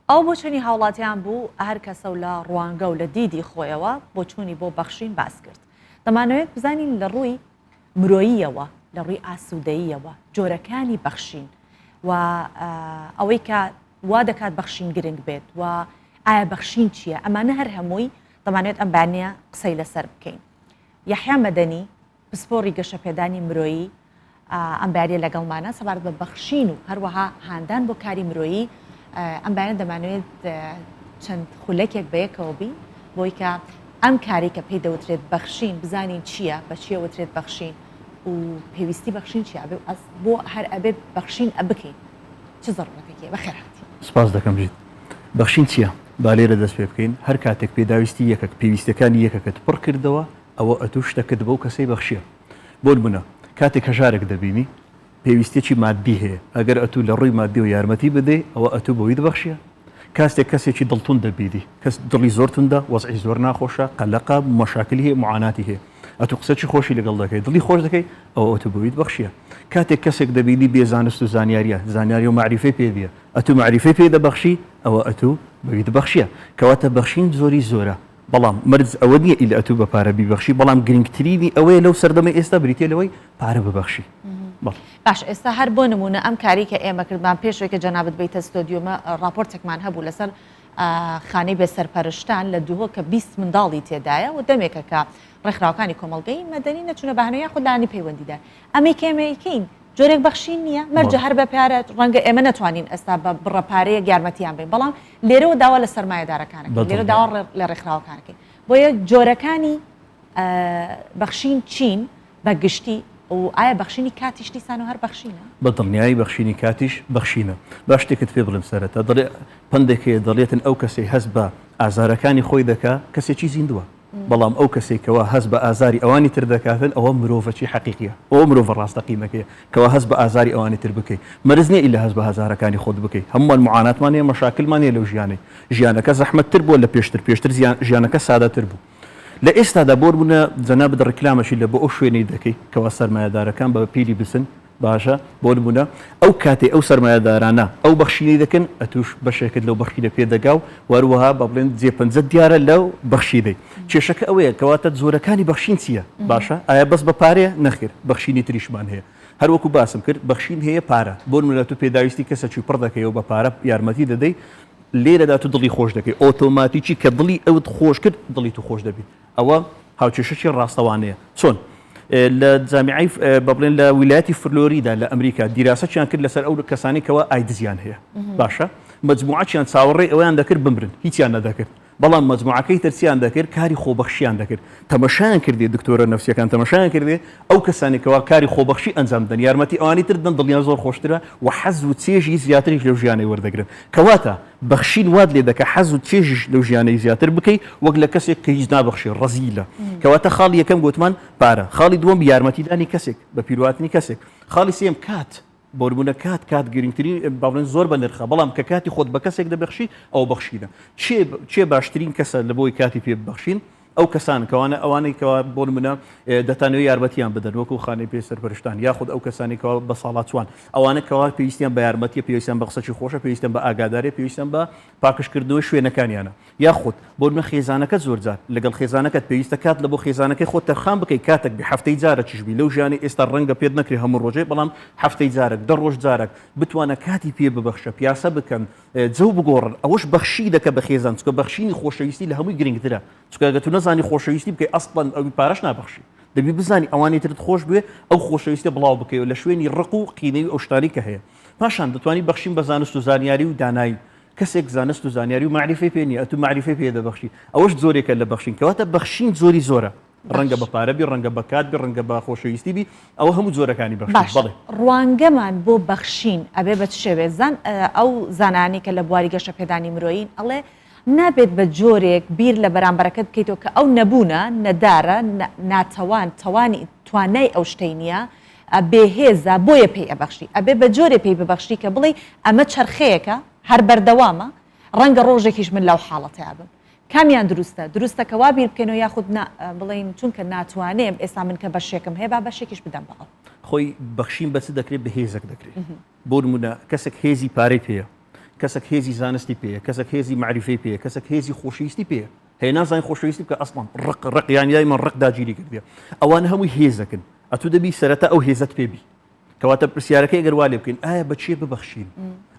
ئەو بۆچونی هاوڵاتیان بوو هەر کەسە و لە ڕوانگە و لە دیدی خۆیەوە بۆچوونی بۆ بەخشین باس کرد. دەمانەوێت بزانین لە ڕووی مرۆییەوە، لە ڕووی ئاسوودەییەوە جۆرەکانی بەخشین و ئەوەی کە وا دەکات بەخشین گرنگ بێت و ئایا بەخشین چییە؟ ئەمانە هەر هەمووی دەمانەوێت ئەم بانە قسەی لەسەر بکەین. یەحیا مەدەنی پسپۆڕی گەشەپێدانی مرۆیی ئەم بەیانە لەگەڵمانە سەبارەت بە بەخشین و هەروەها هاندان بۆ کاری مرۆیی ئەم بەیانە دەمانوێت چەند خولەکێک بەیەکەوە بین بۆی کە ئەم کاری کە پێی دەوترێت بەخشین بزانین چییە بە چیە وترێت بەخشین و پێویستی بەخشین چی ئەبێ ئەس بۆ هەر ئەبێت بەخشین ئە بکەین چ زەڕەتێکی بەخێرهاتی سپاس دەکەم ژیت بەخشین چییە؟ با لێرە دەست پێ بکەین هەر کاتێک پێداویستی یەکەک پێویستەکانی یەکەکەت پڕ کردەوە ئەوە ئەتوو شتەکت بەو کەسەی بەخشیە. بۆنمونە کاتێک هەژارێک دەبینی پێویستیەکی ماددی هەیە ئەگەر ئەتوو لەڕووی ماددیەوە یارمەتی بدەی ئەوە ئەتوو بەویت بەخشیە. کاستێک کەسێکی دڵتوند دەبینی کەس دڵی زۆر توندە وەزعی زۆر ناخۆشە قەلەقە مەشاکلی هەیە معاناتی هەیە ئەتوو قسەکی خۆشی لەگەڵ دەکەی دڵی خۆش دەکەی ئەوە ئەتوو بەویت بەخشیە. کاتێک کەسێک دەبینی بێ زانست و زانیاریە زانیاری و مەعریفەی پێ نیە ئەتوو مەعریفەی پێ دەبەخشی ئەوە ئەتوو بەویت بەخشیە. کەواتە بەخشین زۆری زۆرە بەڵام مەرج ئەوە نییە ئیللا ئەتوو بە پارە بیبەخشی، بەڵام گرینگترینی ئەوەیە لەو سەردەمەی ئێستا بریتییە لەوەی پارە ببەخشی. بەڵێ. باش ئێستا هەر بۆ نموونە ئەم کارەی کە ئێمە کردمان پێش ئەوەی کە جەنابت بێیتە ستۆدیۆمە ڕاپۆرتێکمان هەبوو لەسەر خانەی بێ سەرپەرشتان لە دهۆک کە بیست منداڵی تێدایە و دەمێکە کە ڕێکخراوەکانی کۆمەڵگەی مەدەنی نەچوونە بە هەنە یاخود لایەنی پەیوەندیدار ئەمەی کە ئێمە ئەیکەین جۆرێک بەخشین نییە، مەرجە هەر بە پارە، ڕەنگە ئێمە نەتوانین ئێستا بە بڕە پارەیەک یارمەتییان بین، بەڵام لێرەوە داوا لە سەرمایەدارەکان ئەکەین، لێرە داوا لە ڕێکخراوەکان ئەکەین، بۆیە جۆرەکانی بەخشین چین بە گشتی و ئایا بەخشینی کاتیش دیسان و هەر بەخشینە؟ بە دڵنیایی بەخشینی کاتیش بەخشینە، با شتێکت پێ بڵێم، سەرەتا دەڵێ، پەندێک هەیە دەڵێتن، ئەو کەسەی هەست بە ئازارەکانی خۆی دەکا، کەسێکی زیندووە. بەڵام ئەو کەسەی کەوا هەست بە ئازاری ئەوانی تر دەکاتن ئەوە مرۆڤەچی حەقیقیە ئەوە مرۆڤە ڕاستەقینەکەیە کەوا هەست بە ئازاری ئەوانی تر بکەی مەرز نیە ئیلا هەست بە هەزارەکانی خۆت بکەی هەموومان معاناتمان هەیە مەشاکلمان هەیە لەو ژیانەی ژیانەکە زەحمەت تر بووە لە پێشتر پێشتر زیان ژیانەکە سادەتر بوو لە ئێستادا بۆ نمونە جەنابت ڕیکلامەکی لە بۆ ئەو شوێنەی دەکەی کەوا سەرمایەدارەکان بە پیلی بسن باشە بۆ نمونە ئەو کاتەی ئەو سەرمایەدارانە ئەو بەخشینەی دەکەن ئەتوش بەشێکت لەو بەخشینە پێ دەگا و وەروەها با بڵێن جێ پەنجەت دیارە لەو بەخشینەی کێشەکە ئەوەیە کەواتە جۆرەکانی بەخشین چییە باشە ئایا بەس بە پارەیە نەخێر بەخشینی تریشمان هەیە هەر وەکو باسم کرد بەخشین هەیە پارە بۆ نمونە تۆ پێداویستی کەسەکی پڕ دەکەی و بە پارە یارمەتی دەدەی لێرەدا تۆ دڵی خۆش دەکەی ئۆتۆماتیکی کە دڵی ئەوت خۆش کرد دڵی تو خۆش دەبی ئەوە هاوکێشەکی ڕاستەوانەیە. چۆن؟ لە جامیعەی، با بڵێن لە ویلایەتی فلۆریدا لە ئەمریکا، دیراسەکیان کرد لەسەر ئەو کەسانەی کەوا ئایدزیان هەیە، باشە؟ مەجموعەکیان چاوەڕێی ئەوەیان دەکرد بمرن، هیچیان نەدەکرد، بەڵام مەجموعەکەی تر چیان دەکرد؟ کاری خۆبەخشیان دەکرد. تەمەشایان کردی، دکتۆرە نەفسییەکان تەمەشایان کردی، ئەو کەسانەی کەوا کاری خۆبەخشی ئەنجام دەدەن، یارمەتی ئەوانی تر دەدەن، دڵیان زۆر خۆشترە و حەز و چێژی زیاتریش لەو ژیانەی وەردەگرن. کەواتە بەخشین وات لێ دەکا حەز و چێژیش لەو ژیانەی زیاتر بکەی وەک لە کەسێک کە هیچ نابەخشێ ڕەزیلە کەواتە خاڵی یەکەم گۆتمان پارە خاڵی دووەم یارمەتیدانی کەسێک بە پیروهاتنی کەسێک خاڵی سێم کات بۆ نمونە کات کات گرنگترین با بڵێن زۆر بە نرخە بەڵام کە کاتی خۆت بە کەسێک دەبەخشی ئەو بەخشینە چێ چێ باشترین کەسە لە بۆی کاتی پێ ببەخشین ئەو کەسان کەوانە ئەوانەی کەوا بۆ نمونە دەتانەوە یارمەتیان بدەن وەکو خانەی پێ سەرپەرشتان یاخود ئەو کەسانی کەوا بە ساڵاتوان ئەوانە کەوا پێویستیان بە یارمەتیە پێویستیان بە قسەی خۆشە پێویستیان بە ئاگادارێ پێویستیان بە پاکشکردنەوە شوێنەکانیانە یاخود بۆ نە خێزانەکە زۆرجار لەگەڵ خێزانەکەت پێویستە کات لە بۆ خێزانەکەی خۆ تەرخان بکەی کاتێک بە هەفتەی جارە چشبی لەو ژیانی ئێستا ڕەنگە پێت نەکرێ هەموو ڕۆژێ بەڵام هەفتەی جارێک دە ڕۆژ جارێک بتوانە کاتی پێ ببەخشە پیاسە بکەن جەو بگۆڕن ئەوەش بەخشینەکە بە خێزان چونکە بەخشینی خۆشەویستی لە هەمووی گرنگترە چونکە ئەگەر تو نەزانی خۆشەویستی بکەی ئەسڵەن ئەوی پارەش نابەخشی دەبی بزانی ئەوانی ترت خۆش بوێ ئەو خۆشەویستە بڵاو بکەیەوە لە شوێنی ڕق و قینەی و ئەو شتانەی کە هەیە پاشان دەتوانی بەخشین بە زانست و زانیاری و دانایی کەسێک زانست و زانیاری و مەعریفەی پێ نییە ئەتو مەعریفەی پێ دەبەخشی ئەوەش جۆرێکە لە بەخشین کەواتە بەخشین جۆری زۆرە ڕەنگە بە پارە بی ڕەنگە بە کات بی ڕەنگە بە خۆشەویستی بی ئەوە هەموو جۆرەکانی بەخشین باشە بەڵێ ڕوانگەمان بۆ بەخشین ئەبێ بە چ شێوێ زان ئەو زانایانەی کە لە بواری گەشەپێدانی مرۆیین ئەڵێ نابێت بە جۆرێک بیر لە بەرامبەرەکەت بکەیتەوە کە ئەو نەبوونە نەدارە نا ناتەوان توانی توانای ئەو شتەی نییە ئە بێهێزە بۆیە پێی ئەبەخشی ئەبێ بە جۆرێ پێی ببەخشی کە بڵێی ئەمە چەرخەیەکە هەر بەردەوامە ڕەنگە ڕۆژێکیش من لەو حاڵەتەیا بم کامیان دروستە؟ دروستە کە وا بیر بکەینەوە یاخود نا بڵێین چونکە ناتوانێم ئێستا من کە بەشێکم هەیە با بەشێکیش بدەم بە ئەو. خۆی بەخشین بە چ دەکرێت؟ بە هێزەک دەکرێت. بۆ نموونە کەسێک هێزی پارەی پێیە، کەسێک هێزی زانستی پێیە، کەسێک هێزی مەعریفەی پێیە، کەسێک هێزی خۆشەویستی پێیە، هەیە نازانێت خۆشەویستی بکات ئەسڵەن ڕق ڕق یانی دایمەن ڕق داگیری کردیە. ئەوانە هەمووی هێزەکن. ئەتوو دەبی سەرەتا ئەو هێزەت پێ بی. کەواتە پرسیارەکەی گەر وا لێ بکەین ئایا بە چیە ببەخشین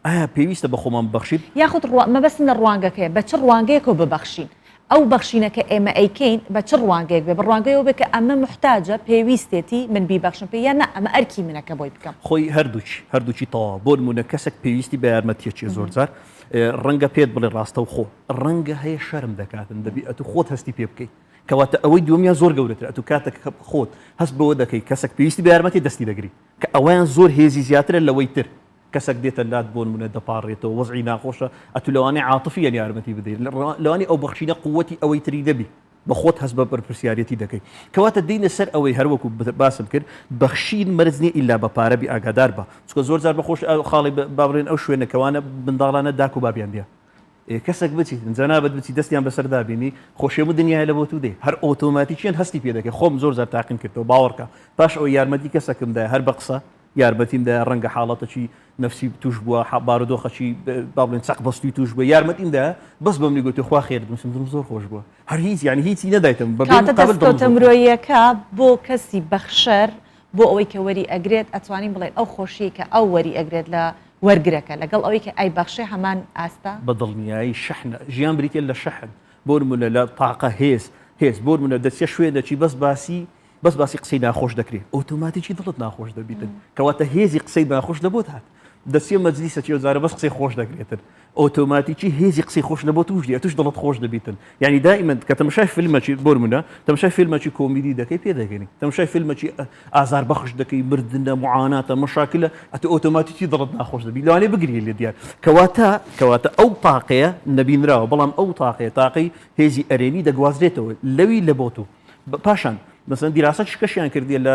ئایا پێویستە بە خۆمان ببەخشین یاخود ڕوا مەبەستم لە ڕوانگەکەیە بە چ ڕوانگەیەکەوە ببەخشین ئەو بەخشینەکە ئێمە ئەیکەین بە چ ڕوانگەیەک بێ بە ڕوانگەیەوە بێ کە ئەمە محتاجە پێویستێتی من بیبەخشم پێ یان نا ئەمە ئەرکی منە کە بۆی بکەم خۆی هەردووچی هەردووچی تەواو بۆ نمونە کەسێک پێویستی بە یارمەتیە چێ زۆر جار ڕەنگە پێت بڵێ ڕاستە و خۆ ڕەنگە هەیە شەرم دەکاتن دەبی ئەتو خۆت هەستی پێ بکەیت کەواتە ئەوەی دووەمیان زۆر گەورەترە ئەتوو کاتەک کە خۆت هەست بەوە دەکەی کەسەک پێویستی بە یارمەتی دەستی دەگری کە ئەوەیان زۆر هێزی زیاترە لەوەی تر کەسەک دێتە لات بۆنمونە دەپاڕێتەوە وەزعی ناخۆشە ئەتوو لەوانەیە عاتفیەن یارمەتی بدەی لەوانی ئەو بەخشینە قوەتی ئەوەی تری نەبی بە خۆت هەست بە بەرپرسیارەتی دەکەی کەواتە دێینە سەر ئەوەی هەروەکو باسم کرد بەخشین مەرج نیە ئیلا بە پارە بی ئاگادار بە چونکە زۆر جار بە خۆش خاڵی با بڵێن ئەو شوێنە کەوانە منداڵانە داک و بابیان دیە ئێ کەسەک بچی جەنابت بچی دەستیان بەسەر دابینی خۆشێ بوو دنیای لە بۆ تو دێ هەر ئۆتۆماتیکیان هەستی پێ دەکەی خۆم زۆر جار تاقیم کردەوە باوەڕکە پاش ئەوەی یارمەتی کەسەکم دای هەر بە قسە یارمەتیم دا ڕەنگە حاڵەتەکی نفسی توش بووە حە بارودۆخەکی با بڵێن چەق بەستوی توش بووە یارمەتیم دا بەس بەمنی گوتی خوا خێر بنووسم دڵم زۆر خۆش بووە هەر هیچ یعنی هیچی نەدایتم بە بێ کاتە مقابل دڵم زۆر دەستکەوتە خۆش بوو. مرۆییەکە بۆ کەسی بەخشەر بۆ ئەوەی کە وەری ئەگرێت ئەتوانین بڵێین ئەو خۆشیەی کە ئەو وەری ئەگرێت لە وەرگرەکە لەگەڵ ئەوەی کە ئەیبەخشێ هەمان ئاستە؟ بە دڵنیایی شەحنە، ژیان بریتیە لە شەحن، بۆنمونە لە تاقە، هێز، هێز، بۆنمونە دەچیە شوێنەکی بەس باسی بەس باسی قسەی ناخۆش دەکرێ ئۆتۆماتیکی دڵت ناخۆش دەبیتن کەواتە هێزی قسەی ناخۆش لەبۆت هات؟ دەچیە مەجلیسەکی ئەو جارە بەس قسەی خۆش دەکرێتن ئۆتۆماتیکی هێزی قسەی خۆش لە بۆ توش دێ توش دڵت خۆش دەبیتن یعنی دائیمەن کە تەمەشای فیلمەکی بۆرمونە تەمەشای فیلمەکی کۆمیدی دەکەی پێ دەگەنی تەمەشای فیلمەکی ئازار بەخش دەکەی مردنە معاناتە مەشاکلە ئەتە ئۆتۆماتیکی دڵت ناخۆش دەبی لەوانێ بگری لێ دیار کەواتە کەواتە ئەو تاقەیە نەبینراوە بەڵام ئەو تاقەیە تاقەی هێزی ئەرێنی دەگوازرێتەوە لەوی لە بۆ تو پاشان مەسەن دیراسە شکەشیان کردی لە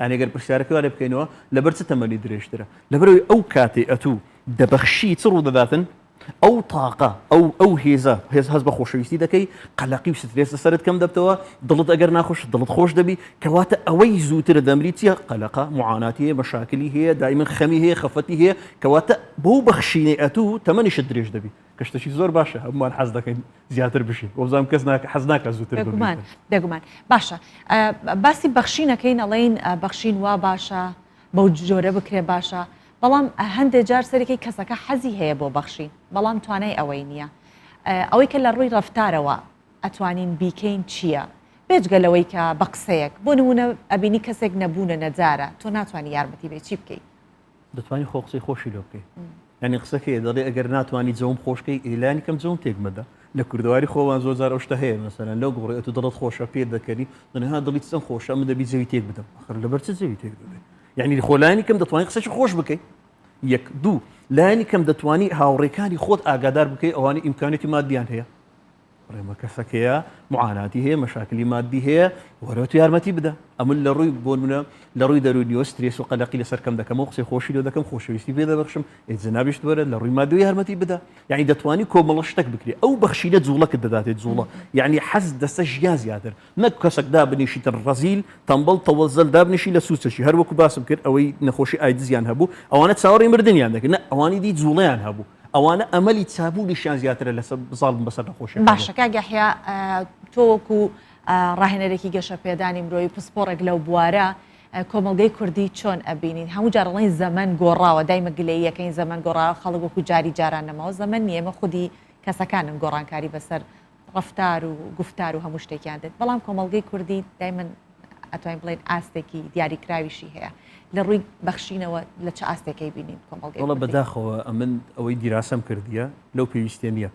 یانی گەر پرسیارەکەی وا لێ بکەینەوە لەبەر چ تەمەنی درێژترە؟ لەبەرەوەی ئەو کاتەی ئەتوو دەبەخشی چ ڕوودەداتن؟ ئەو تاقە ئەو ئەو هێزە هێز هەست بە خۆشەویستی دەکەی قەلەقی و سترێس لە سەرت کەم دەبتەوە دڵت ئەگەر ناخۆش دڵت خۆش دەبی کەواتە ئەوەی زووترە دەمری چیە قەلەقە معاناتی هەیە مەشاکلی هەیە دایمن خەمی هەیە خەفەتی هەیە کەواتە بەو بەخشینەی ئەتوو تەمەنیشت درێژ دەبی گشتەکی زۆر باشە هەمووان حەز دەکەین زیاتر بشین وەزانام کەس ناکە حەز ناکە زووتر بگومان دەگومان باشە باسی بەخشینەکەی نەڵین بەخشین وا باشە بەو جۆرە بکرێ باشە بەڵام هەندێک جار سەرەکەی کەسەکە حەزی هەیە بۆ بەخشین بەڵام توانای ئەوەی نییە ئەوەی کە لە ڕووی ڕفتارەوە ئەتوانین بیکەین چییە؟ بێجگە لەوەی کە بە قسەیەک بۆ نمونە ئەبینی کەسێک نەبوونە نەجارە تۆ ناتوانانی یارمەتی بێ چی بکەیت؟ دەتوانی خۆ قسەی خۆشی لۆ بکەی ینی قسەکەی دەڵێ ئەگەر ناتوانانی جەوم خۆشکەی ئیلانی کەم جەوم تێک مەدە لە کوردەواری خۆوان زۆر زار ئەوشتە هەیە مەسەرەن لەو گوڕێت و دڵت خۆشە پێ دەکەنی دنها دڵیت سم خۆشە من دەبی جەوی تێک بدەم خر لەبەر چ جەوی تێک دەبێ یعنی خۆلانی کەم دەتوانانی قسەی خۆش بکەی یەک دوو لایانی کەم دەتوانی هاوڕێکانی خۆت ئاگادار بکەی ئەوانی ئیمکانێتی مادیان هەیە بڵێ مە کەسەکەیە معاناتی هەیە مەشاکلی مادی هەیە وەرە تو یارمەتی بدە ئەمن لە ڕووی بۆ منە لە ڕووی دەرونیەوە سترێس و قەلەقی لەسەر کەم دەکەمەوە قسەی خۆشی لۆ دەکەم خۆشەویستی پێ دەبخشم ئێ جنابیشت وەرە لە ڕووی مادوی یارمەتی بدە یعنی دەتوانی کۆمەڵە شتێک بکرێت ئەو بەخشینە جوڵەکە دەداتێت جوڵە یعنی حەز دەسە ژیا زیاتر نەک کەسەکدا بنیشیتن ڕزیل تەمبڵ تەوەزل دابنیشی لە سوچەشی هەروەکو باسم کرد ئەوەی نەخۆشی ئایدزیان هەبوو ئەوانە چاوەڕی مردیان دەکرد ئەوانی دی جوڵیان هەبوو ئەوانە ئەمەلی چابوونیشیان زیاترە لە زاڵ بوون بەسەر نەخۆشیەکان. باشە کاک یەحیا تۆ وەکو ڕاهێنەرێکی گەشە پێدانی مرۆیی پسپۆڕێک لەو بوارە کۆمەڵگەی کوردی چۆن ئەبینین هەموو جار ڵین زەمن گۆڕاوە دایمە گلەییەکەین زەمن گۆڕاوە خەڵک وەکو جاری جاران نەماوە زەمن نیە ئێمە خودی کەسەکانن گۆڕانکاری بەسەر ڕەفتار و گوفتار و هەموو شتێکیان دێت بەڵام کۆمەڵگەی کوردی دایمن ئەتوانین بڵێن ئاستێکی دیاریکراویشی هەیە لە ڕووی بەخشینەوە لە چ ئاستێکی بینین کۆمەڵگەی وڵە بەداخەوە ئەمن ئەوەی دیراسەم کردیە لەو پێویستە نییە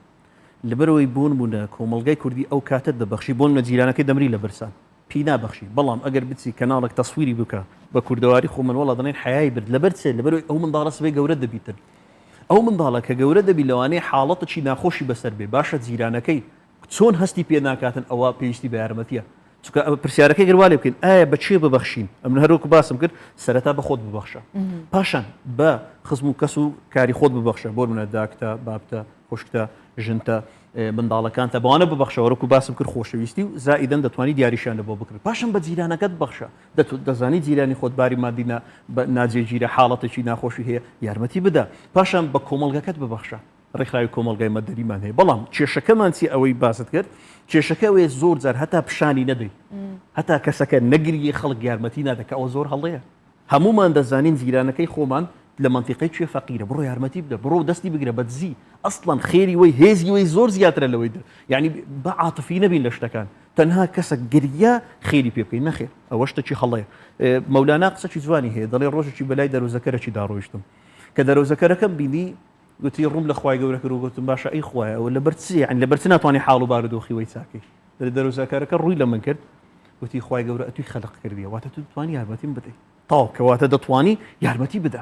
لەبەرەوەی بوون بوونە کۆمەلگای کوردی ئەو کاتت دەبەخشی بۆن مەجیرانەکەی دەمری لە برسان پی نابەخشی بەڵام ئەگەر بچی کەناڵەک تەسویری بکە بە کوردەواری خۆ من وەڵا دەڵێن حەیای برد لەبەر چێ لەبەرەوەی ئەو منداڵە سبەی گەورە دەبیتن ئەو منداڵە کە گەورە دەبی لەوانەیە حاڵەتەکی ناخۆشی بەسەر بێ باشە جیرانەکەی چۆن هەستی پێ ناکاتن ئەوە پێویستی بە یارمەتیە چونکە ئەوە پرسیارەکەی گەر وا لێ بکەین ئایا بە کێ ببەخشین ئەمن هەر وەکو باسم کرد سەرەتا بە خۆت ببەخشە پاشان بە خزم و کەس و کاری خۆت ببەخشە بۆ منە داکتە بابتە خوشکتە ژنتە منداڵەکانتە بەوانە ببەخشە وەرکو باسم کرد خۆشەویستی و زائیدەن دەتوانی دیاریشیان لەبۆ بکڕی پاشان بە جیرانەکەت بەخشە دەزانی جیرانی خۆت باری مادی ناجێگیرە حاڵەتێکی ناخۆشی هەیە یارمەتی بدە پاشان بە کۆمەڵگەکەت ببەخشە ڕێکخراوی کۆمەڵگای مەدەنیمان هەیە بەڵام کێشەکەمان چی ئەوەی باست کرد کێشەکە ئەوێ زۆر جار هەتا پیشانی نەدەی هەتا کەسەکە نەگریی خەڵک یارمەتی نادە کە ئەوە زۆر هەڵەیە هەموومان دەزانین جیرانەکەی خۆمان لە مەنتیقەی کوێ فەقیرە بڕۆ یارمەتی بدە بڕۆ دەستی بگرە بە دزی ئەسڵەن خێری وەی هێزی وەی زۆر زیاترە لەوەی دە یانی با عاتفی نەبین لە شتەکان تەنها کەسەک گریا خێری پێ بکەین نەخێر ئەوە شتەکی هەڵەیە مەولانا قسەکی جوانی هەیە دەڵێ ڕۆژێکی بەلای دەروزەکەرەکی داڕۆیشتم کە دەرۆزەکەرەکەم بینی گوتی، ڕووم لە خوای گەورە کرد و گوتم، باشە ئەی خوایە ئەوە لەبەر چییە، یانی لەبەر چ ناتوانی حاڵ و بارودۆخی وەی چاکەی؟ دەڵێ، دەرۆزەکەرەکە ڕووی لە من کرد، گوتی، خوای گەورە ئەتووی خەلق کردیە، واتە تۆ دەتوانی یارمەتیم بدەی، تەواو، کەواتە دەتوانی یارمەتی بدە،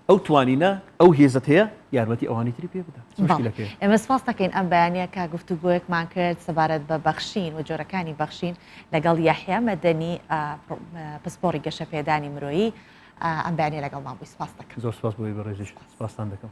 ئەو توانینە، ئەو هێزەت هەیە، یارمەتی ئەوانی تری پێ بدە، چ مشکیلەک هەیە؟ ئێمە سپاست دەکەین ئەم بەیانییە کە گفتوگۆیەکمان کرد سەبارەت بە بەخشین و جۆرەکانی بەخشین لەگەڵ یەحیا مەدەنی پسپۆڕی گەشەپێدانی مرۆیی ئەم بەیانییە لەگەڵمان بووی سپاست دەکەم. زۆر سپاس بۆ ئێوەی بەڕێزیش، سپاستان دەکەم.